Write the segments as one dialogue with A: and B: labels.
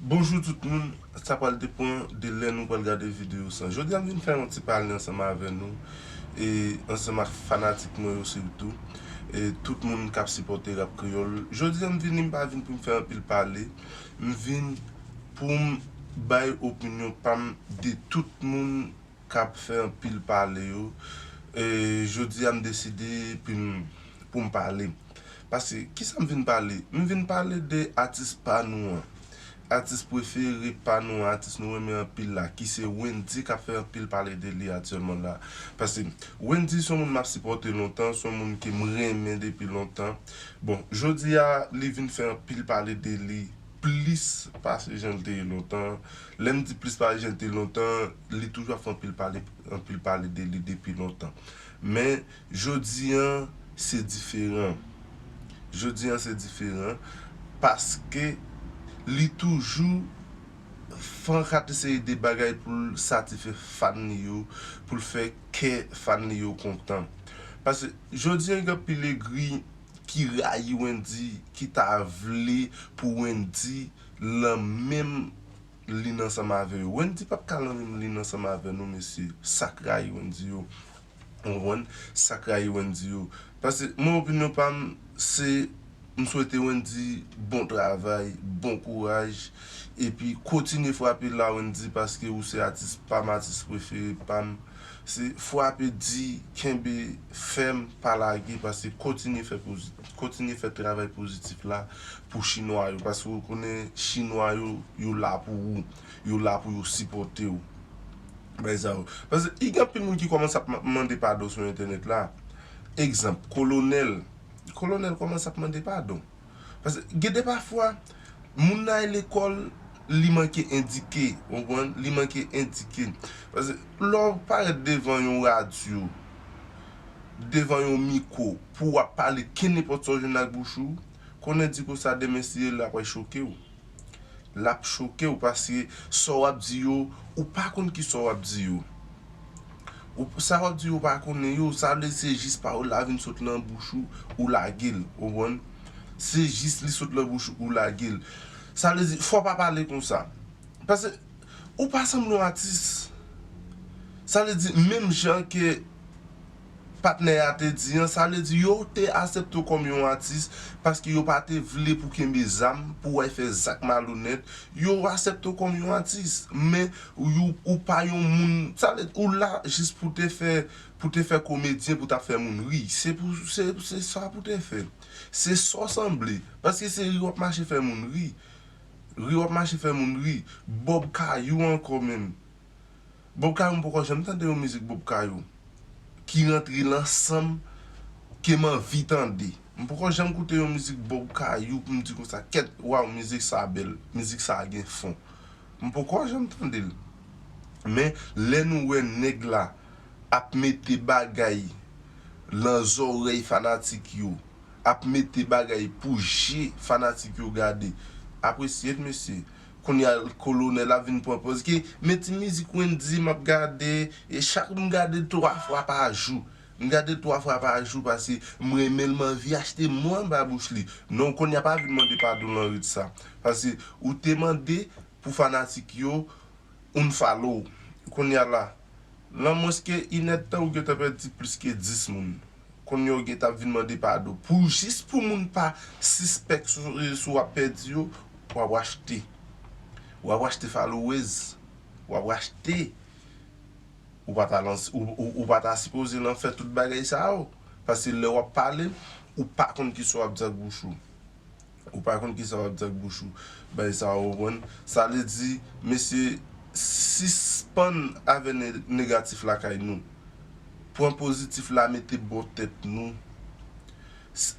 A: Bonjou tout moun, sa pral depan de lè nou pral gade video sa Jodi a m vin fè yon ti pale ansanm avè nou e ansanm ak fanatik mwen yo sitou e tout moun k ap sipòte Rap Kreyòl Jodi a m vini m pa vin pou m fè anpil pale m vin pou m bay opinyon pa m de tout moun kap fè anpil pale yo jodi a m deside pou m pale paske kisa m vin pale m vin pale de atis pa nou an atis prefere pa nou an atis nou renmen anpil la ki se Wendyy kap fè anpil pale de li aktyèlman la paske Wendyy son moun map sipòte lontan son moun ke m renmen depi lontan bon jodi a li vin fè anpil pale de li. plis pase jan l te ye lontan. Lè m di plis pase jan l te ye lontan, li toujou ap fè anpil pale, anpil pale de li depi lontan. Men, jodi a, se diferan. Jodi a, se diferan, paske li toujou fè yon kate seri de bagay pou l satifè fan li yo, pou l fè kè fan li yo kontan. Paske, jodi a gen anpil egri. ki rayi Wendy ki ta vle pou Wendy lan menm lin ansanm avè yo Wendy pap ka lan menm lin ansanm avè nou mesye sak rayi Wendy yo ou konprann sak rayi Wendy yo pase mwen opinyon pam se m swete Wendy bon travay bon kouraj epi kontinye frape la Wendy paske ou se atis pam atis prefere pam. Se fwape di kenbe fèm pa lage pase kontinye fè kontinye fè travay pozitif la pou chinwa yo pase ou konnen chinwa yo yo la pou ou yo la pou yo sipòte ou bay sa yo pase i gen anpil moun ki kòmanse ap mande padon sou entènèt la egzanp kolonèl kolonèl kòmanse ap mande padon. Paske gen de pafwa, moun nan al lekòl, li manke endike, ou konprann, li manke endike. Paske lè w parèt devan yon radyo, devan yon miko, pou w ap pale kenenpòt sa w jwenn nan bouch ou, konnen di ko sa demen si e la pral choke w. lap chokew paske sa wap di yo ou pa konn ki sa wap di yo ou sa wap di yo ou pa konnen yo sa vle di se jis pawòl la vin sot nan bouch ou ou lagel ou konprann se jis li sot nan bouch ou ou lagel sa vle di fò pa pale konsa paske ou pa sanble yon atis sa vle di menm jan ke. patnè a te di an, sa vle di yo te asepte w kòm yon atis paske yo pa te vle pou kenbe zam, pou w al fè zak malonèt, yo asepte w kòm yon atis, men ou pa yon moun, sa vle di ou la jis pou te fè, pou te fè komedyen pou ta fè moun ri, se pou, se sa pou te fè, se sa w sanble, paske se ri w ap mache fè moun ri, ri w ap mache fè moun ri, Bob kay ou ankò menm. Bob kayou m poko janm tande yon mizik bob kayou ki rantre lan sanm kem anvi tande m poko janm koute yon mizik bob kayou poum di konsa kèt waw mizik sa bèl mizik sa gen fon m poko janm tandel men lè nou wè nèg la ap mete bagay lan zòrèy fanatik yo ap mete bagay pou je fanatik yo gade apresye t mesye. Kounya kolonel ap vin pran pòz ki men ti mizik wendyy map gade e chak m gadel 3 fwa pa jou m gadel 3 fwa pa jou pase m renmenl m anvi achte mo anba bouch li non kounya pa vin mande padon nan rit sa pase ou te mande pou fanatik yo unfollow kounya la lan mwens ke inèdtan ou gentan pèdi plis ke 10 moun. Kounye ou gentan ap vin mande padon pou jis pou moun pa sispèk sou rezo sou wap pèdi yo wap rachte wap rachte followers wap rachte ou pa ta lan ou pa ta sipoze lan fè tout bagay sa yo paske lè wap pale ou pa konn kisa wap di ak bouch ou Ou pa konn kisa wap di ak bouch ou bay sa ou konprann sa vle di mesye sispann avè negatif lakay nou pran pozitif la mete bò tèt nou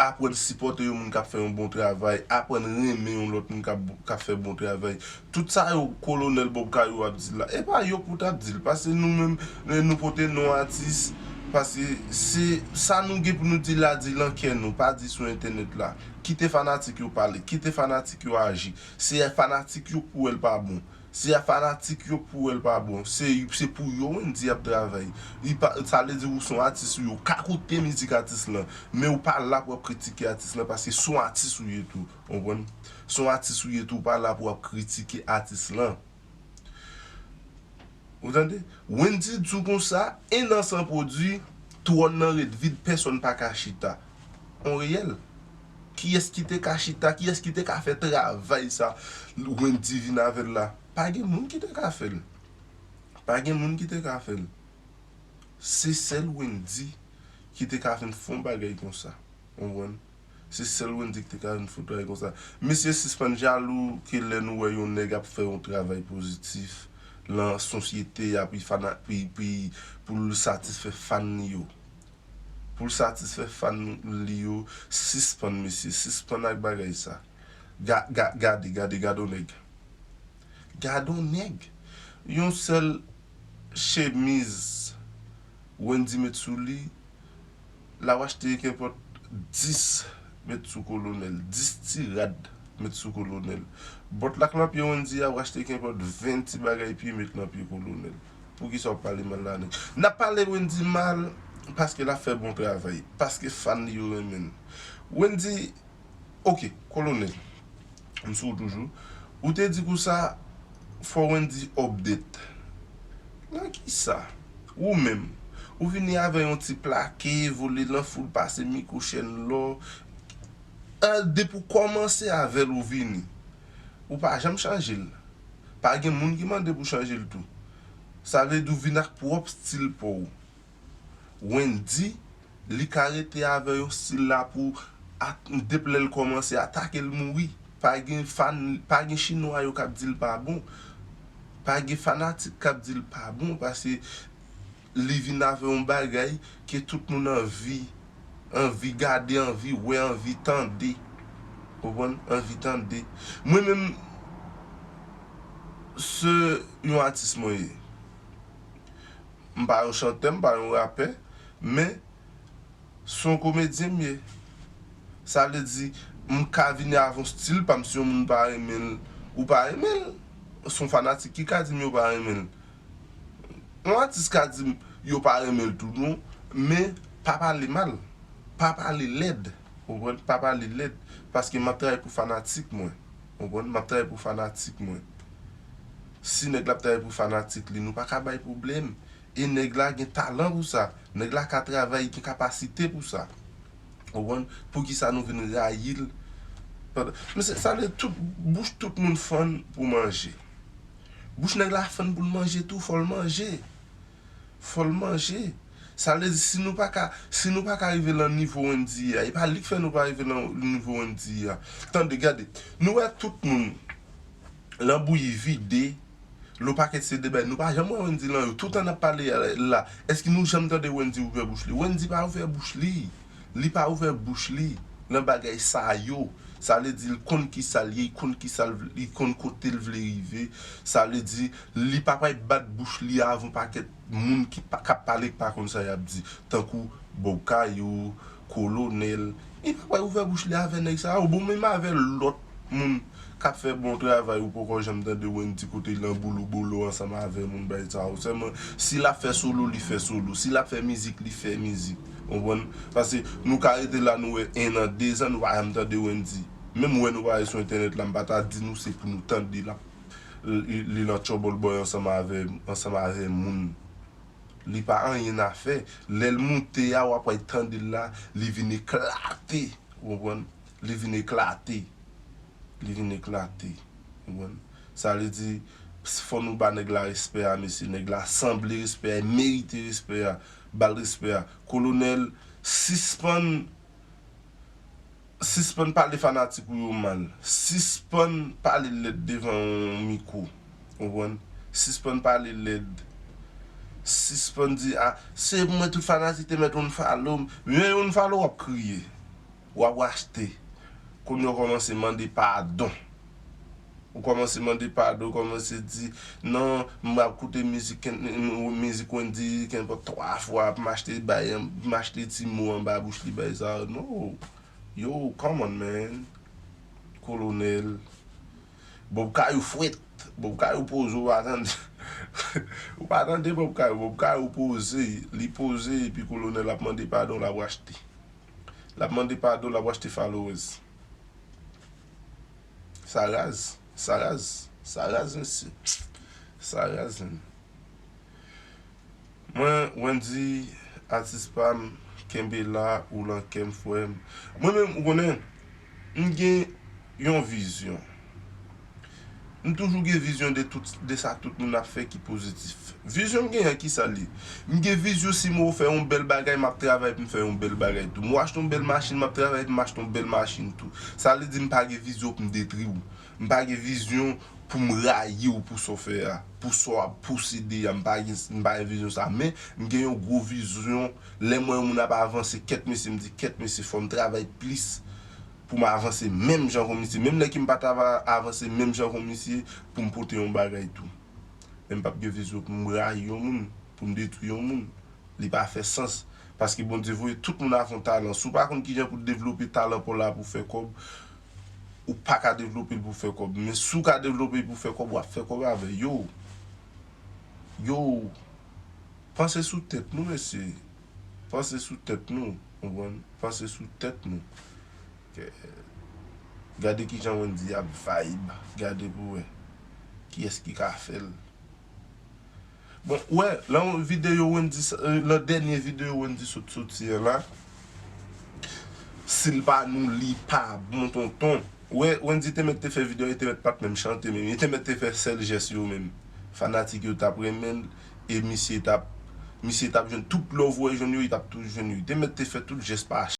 A: aprann sipòte yon moun kap fè yon bon travay aprann renmen yon lòt moun kap fè bon travay Tout sa yo kolonel bob kayou ap di la epa yo pou tap dil pase nou menm nou pote non atis pase se sa nou gen pou nou di la di lan kè nou pa di sou entènèt la kite fanatik yo pale kite fanatik yo aji se fanatik yo pou wèl pa bon se fanatik yo pou wèl pa bon se pou yo wendy ap travay sa vle di ou son atis ou yo ka koute mizik atis lan men ou pa la pou wap kritike atis lan paske son atis ou ye tou. Ou konprann? Son atis ou ye tou pa la pou wap kritike atis lan. Ou tande? Wendyy di w konsa, 1 an san pwodwi, twòn nan ret vid pèsòn pa ka chita. On reyèl. Kiyès ki te ka chita, kiyès ki te ka fè travay sa Wendyy vin avè l la? Pa gen moun ki te ka fè l. Pa gen moun ki te ka fè l. Se sèl Wendyy ki te ka vin fè on bagay konsa. Ou konprann? Se sèl Wendy ki te ka jwenn foudray konsa. Mesye sispann jalou ke lè nou wè yon nèg ap fè yon travay pozitif lan sosyete a pi fana pi pi pou l satisfè fan li yo. Pou l satisfè fan li yo sispann mesye sispann ak bagay sa. Ga ga gade gade gade yon nèg. Gade yon nèg. Yon sèl chemiz Wendy met sou li. Lawash te gen kenpòt dis met sou kolonèl, dis ti rad met sou kolonèl. Bòt l ak nan pye Wendy a, Wash te kenpòt ven ti bagay pye met nan pye kolonèl. Poukisa w ap pale mal Lane? N ap pale Wendy mal paske l ap fè bon travay, paske fan li yo renmen l. Wendy. Ok, kolonel, m sou w toujou. Ou te di kousa fò Wendy update. Nan kisa? Ou menm, ou vini avè yon ti plake, vole nan foul pase mikwo chèn lò. Depi w kòmanse avè l ou vini. Ou pa janm chanje l. Pa gen moun ki mande pou w chanje l tou. Sa vle di w vini ak pwòp stil pa w. Wendy li ka rete avè yo stil la pou dep lèl kòmanse atake l mouri pa gen fan pa gen chinwa yo kap dil pa bon pa gen fanatik kap dil pa bon pase li vin avè yon bagay ke tout moun anvi anvi gade anvi wè anvi tande ou konprann anvi tande mwen menm se yon atis mwen ye. M pa yon chantè, m pa yon rapè, men s on komedyen m ye. Sa vle di, m ka vini avon stil pa m si yon moun pa renmen l, ou pa renmen l. S on fanatik ki ka di m yo pa renmen l. Yon atis ka di m yo pa renmen l tou non, men pa pale mal, pa pale lèd, ou konprann, pa pale lèd paske m ap travay pou fanatik mwen. Konprann map travay pou fanatik mwen si nèg la ap travay pou fanatik li nou paka bay pwoblèm e nèg la gen talan pou sa nèg la ka travay li gen kapasite pou sa konprann poukisa nou vin rayil mesye sa vle tout bouch tout moun fann pou manje bouch nèg la fann poul manje tou fòl manje fò l manje. Sa vle di si nou pa ka, si nou pa ka rive lan nivo Wendyy a, e pa li k fè nou pa rive lan nivo Wendyy a. Tande, gade, nou wè tout moun lan bouyi vide, lo pakèt se de bagay, nou pa janm wè Wendyy lan yo. Toutan n ap pale la, èske nou janm tande Wendyy ouvè bouch li? Wendyy pa ouvè bouch li. Li pa ouvè bouch li lan bagay sa yo. Sa vle di l konn ki sa l ye, l konn ki sa l vle, li konn kote l vle rive. Sa vle di Li pa pay bat bouch li avan pakèt moun ki pa kap pale ki pa konn sa yap di tankou Bob Kayou, Kolonel, li pa pay ouvè bouch li avè nèg sa yo bon menm avè lòt moun kap fè bon travay ou poko janm tande Wendy kote nan boulou bolo ansanm avè moun bay sa yo sèlman si lap fè solo li fè solo si lap fè mizik li fè mizik ou konprann pase nou ka rete la nou wè 1 an 2 zan nou pa janm tande Wendy menm wè nou pa ale sou entènèt la m pa ta di nou se pou nou tande lap li nan trouble boy ansanm avè ansanm avè moun li pa anyen na fè lèl moute a wap wè tandel la li vin eklate ou konprann li vin eklate li vin eklate ou konprann sa vle di fò nou ba nèg la respè a mesye nèg la sanble respè a e merite respè a bal respè a kolonèl sispann. Sispann pale fanatik ou yo mal. Sispann pale lèd devan yon mikwo. Konprann? Sispann pale lèd. Sispann di a, se mwen tout fanatik te mèt unfollow m. Lè yo unfollow w ap kriye. W ap rachte. Kounye w kòmanse mande padon. Ou kòmanse mande padon, ou kòmanse di, non, m ap koute mizik ken, mizik Wendy kenpòt 3 fwa, pou m achte bay, pou m achte ti mo anba bouch li bay sa yo. No! Yow, come on man! Kolonèl. Bob Kayou fwèt! Bob Kayou poze ou pa tande. Ou pa tande Bob Kayou. Bob Kayou poze, li poze epi Kolonèl ap mande padon l ap rachte. L ap mande padon l ap rachte followers. Sa raz, sa raz, sa raz mesye, sa raz menn. Mwen Wendy atis pam kenbe la ou lan kèm frèm. Mwen menm ou konnen m gen yon vizyon. M toujou gen vizyon de tout de sa tout moun ap fè ki pozitif. Vizyon m genyen an ki sa l ye? M gen vizyon si mou fè yon bèl bagay m ap travay pou m fè yon bèl bagay tou. Mou achte yon bèl machin m ap travay pou m achte yon bèl machin tou. Sa vle di m pa gen vizyon pou m detri w. M pa gen vizyon pou m rayi w pou sa w fè a, pou sa w ap posede a. M pa gen m pa gen vizyon sa. Men, m gen yon gwo vizyon lè m wè yon moun ap avanse kèt mesye m di kèt mesye fò m travay plis pou m avanse menm jan kon misye, menm lè ke m pa ta va avanse menm jan kon misye pou m pote yon bagay tou. Men m p ap gen vizyon pou m rayi yon moun, pou m detwi yon moun. Li pa fè sans. Paske Bondye voye tout moun avon talan. Si w pa konn kijan pou devlope talan pa w la pou w fè kòb, ou pa ka devlope l pou w fè kòb. Men si w ka devlope l pou w fè kòb, w ap fè kòb avè l. Yoww! Yoww! Panse sou tèt nou mesye. Panse sou tèt nou, konprann, panse sou tèt nou. Gade kijan Wendyy ap vayb, gade pou wè kiyès ki ka fèl. Bon, ou wè lan videyo Wendyy sa, lan dènye videyo Wendyy sot soti an la, sil pa nou li pa bon tonton. Ou wè Wendyy te mèt te fè videyo a, li te mèt pat menm chante menm, li te mèt te fè sèl jès yo menm. Fanatik yo tap renmenl, e misye tap misye tap jwenn tout love ou wè jwenn yo li tap toujou jwenn yo li te mèt te fè tout jès pa